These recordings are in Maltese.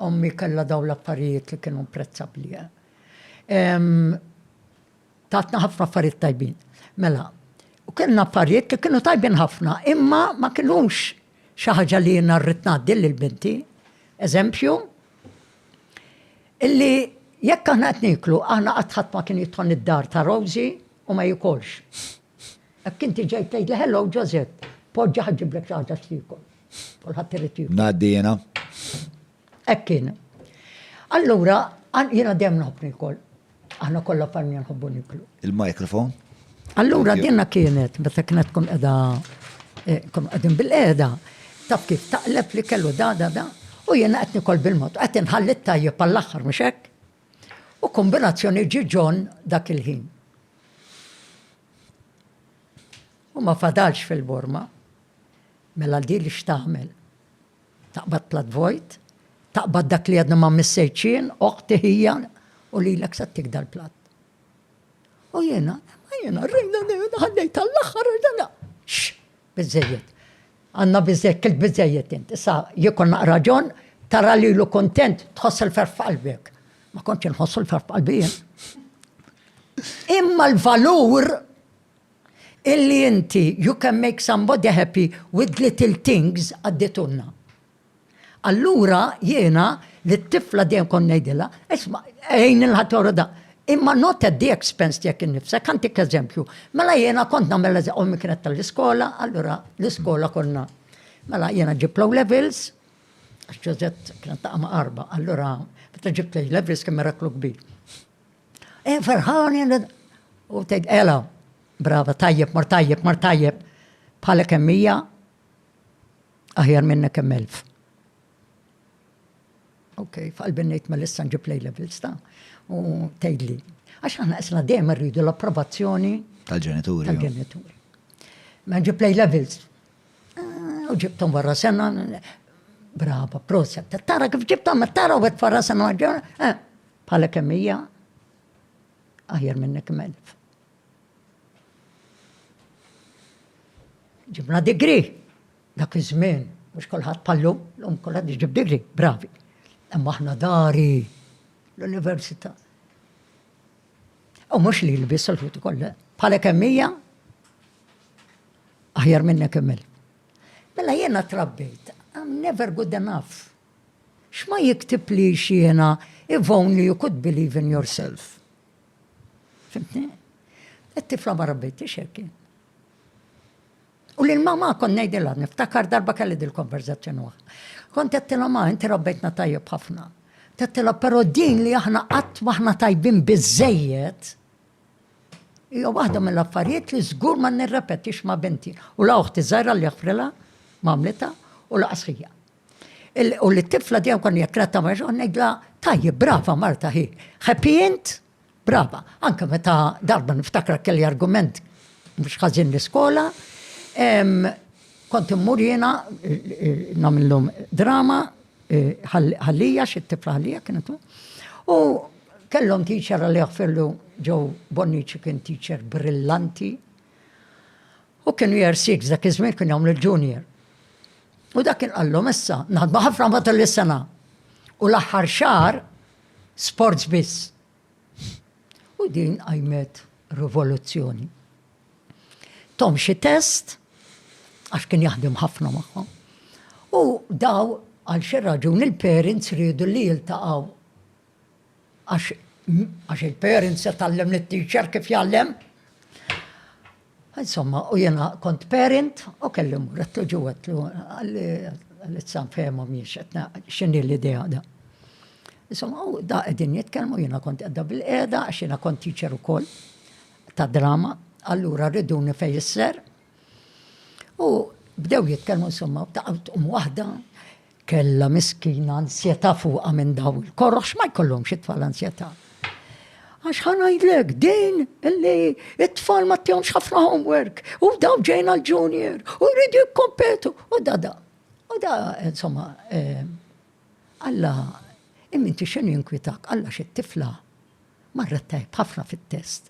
Ommi kellha dawn l-affarijiet li kienu imprezzabbli. Tatna ħafna affarijiet tajbin. Mela, u kellna affarijiet li kienu tajbin ħafna, imma ma kinux xi ħaġa li jiena rrid ngħaddi lil binti. Eżempju, illi jekk aħna qed niklu, aħna qatt ħadd ma kien jidħol id-dar ta' Rosie u ma jikolx. Hekk inti ġejt tgħidli hello Ġożepp, poġġa ħa ġġiblek xi ħaġa x'tiekol. Kulħadd irid jiekol. Ngħaddi jiena. Hekk kien. Allura, jiena dejjem nħobb nikol. Aħna kollha familja nħobbu niklu. Il-mikrofon. Allura dinna kienet, meta kienet tkun qiegħda eh, kum qegħdin bil-qiegħda, taf kif taqleb li kellu da da da, u jiena qed nikol bil-mod, qed inħalli tajjeb għall-aħħar mhux hekk. U kombinazzjoni ġi John dak il-ħin. U ma fadalx fil-borma. Mela di li x'tagħmel? Taqbad plat vojt, taqbad dak li għadna ma missejċin, oħti ħija, u li l-ek sattik dal-plat. U jena, jena, rejna, ħallejt għall-axħar, ġana, Biżżejjed. Għandna biżżejjed, kilt biżżejjed int. Issa jkollna raġun tara lilu kuntent, tħoss il-ferħ f'qalbek. Ma kontx inħossu l-ferħ f'qalbi jien. Imma l-valur illi inti you can make somebody happy with little things għadditunna. Allura jiena lit-tifla dejjem kont ngħidilha, isma' għin lil ħadd ieħor u da. Imma not at the expense tiegħek innifsek. Ħantik eżempju. Mela jiena kont nagħmel eżem, ommi kienet tal-iskola, allura l-iskola konna. Mela jiena ġibt l-O levels, għax Ġużett kienet taqa' ma' arba, allura meta ġibt l-A levels kien miraklu kbir. E ferħani, u tgħid ela, brava, tajjeb, mar tajjeb, mar tajjeb, bħalek hemm hija, Aħjar minnek hemm elf. Ok, f'qalbi ngħid ma lissa nġib lej levels ta' u tgħidli. Għax aħna isna dejjem rridu l-approvazzjoni tal-ġenituri. Tal-ġenituri. Ma nġib lej levels. Ah, u ġibtom wara sena, brava, proset, tara kif ġibtom, tara u għet farra sena ġena, eh, bħala kemmija, aħjar minnek melf. Ġibna digri dak iż-żmien, mhux kulħadd pallu, lum kulħadd iġib digri, bravi. Imma aħna dari l-università. U mhux li l-biss l-ħuti kollha, bħalek kemmija, aħjar minnek kemmel. Mela jiena trabbejt, I'm never good enough. X'ma jiktib li xiena, if only you could believe in yourself. Fimtni? It-tifla ma rabbittix hekk. U lil mama kon ngħidilha niftakar darba kelli dil-konverzazzjoni waħda. Kont tettilha ma inti rabbejtna tajjeb ħafna. Tettilha però din li aħna qatt maħna tajbin biżejjed hija waħda mill-affarijiet li żgur ma nirrepetix ma' binti. U la uħti żgħira li jaħfrilha m'għamlitha u laqas ħija. U li t-tifla dejjem kon jekk ratta ma xogħol ngħidla tajjeb brava Marta hi. Happy int? Brava. Anke meta darba niftakra kelli argument mhux ħażin l-iskola, kont immur jiena nagħmilhom drama eh, ħallija xi tifla ħallija kienet u kellhom teacher li jaħfirlu ġew Bonnici kien teacher brillanti u kienu jersik dak iż-żmien kien jagħmlu l-junior. U dak kien qallhom issa, naħdmu ħafna matul is-sena. U l-aħħar xahar sports biss. U din qajmet rivoluzzjoni. Tom xi test, għax kien jaħdem ħafna magħhom. U daw għal xi raġuni l-parents rridu li jiltaqgħu Għax għax il-parent se tgħallem lit-teacher kif jgħallem. Insomma, u jena kont parent u kellim għattu ġuwetlu għal-izzan fehmu miex għetna xinni l-idea da. Insomma, u da għedin jitkelmu jena kont għedda bil-qeda għax jena kont teacher u koll ta' drama, allura rridu nifej jisser. U bdew jitkelmu insomma, ta' għum wahda, Kellha miskina ansjetà fuqha minn dawn il-koroh x'ma jkollhomx it-tfal ansjetà. Għax ħa ngħidlek din illi it-tfal ma tihomx ħafna homework u daw ġejn għal junior u jridu jikkompetu u da da. U da insomma eh, Alla imminti x'inhu jinkwitak Alla xi tifla marret tajb ħafna fit-test.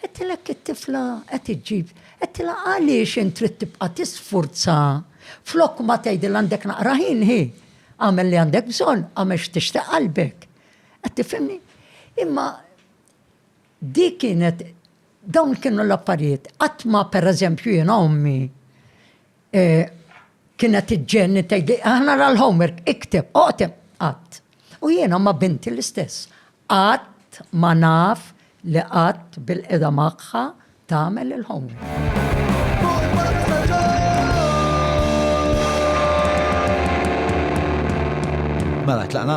Għedtilek it-tifla qed iġġib. Għedtilha għaliex int trid tibqa' tisfurza flok ma tgħidilha għandek naqra ħin hi. Għamel li għandek bżonn, għamel x'tixtieq qalbek. Qed tifhimni? Imma di kienet dawn kienu l-affarijiet. Qatt ma pereżempju jiena ommi e, kienet iġġenni tgħidli aħna l-homework ikteb, oqtem qatt. U jiena ma' binti l-istess. Qatt ma naf li qatt bil-qeda magħha tagħmel il-homework. Mela tlaqna?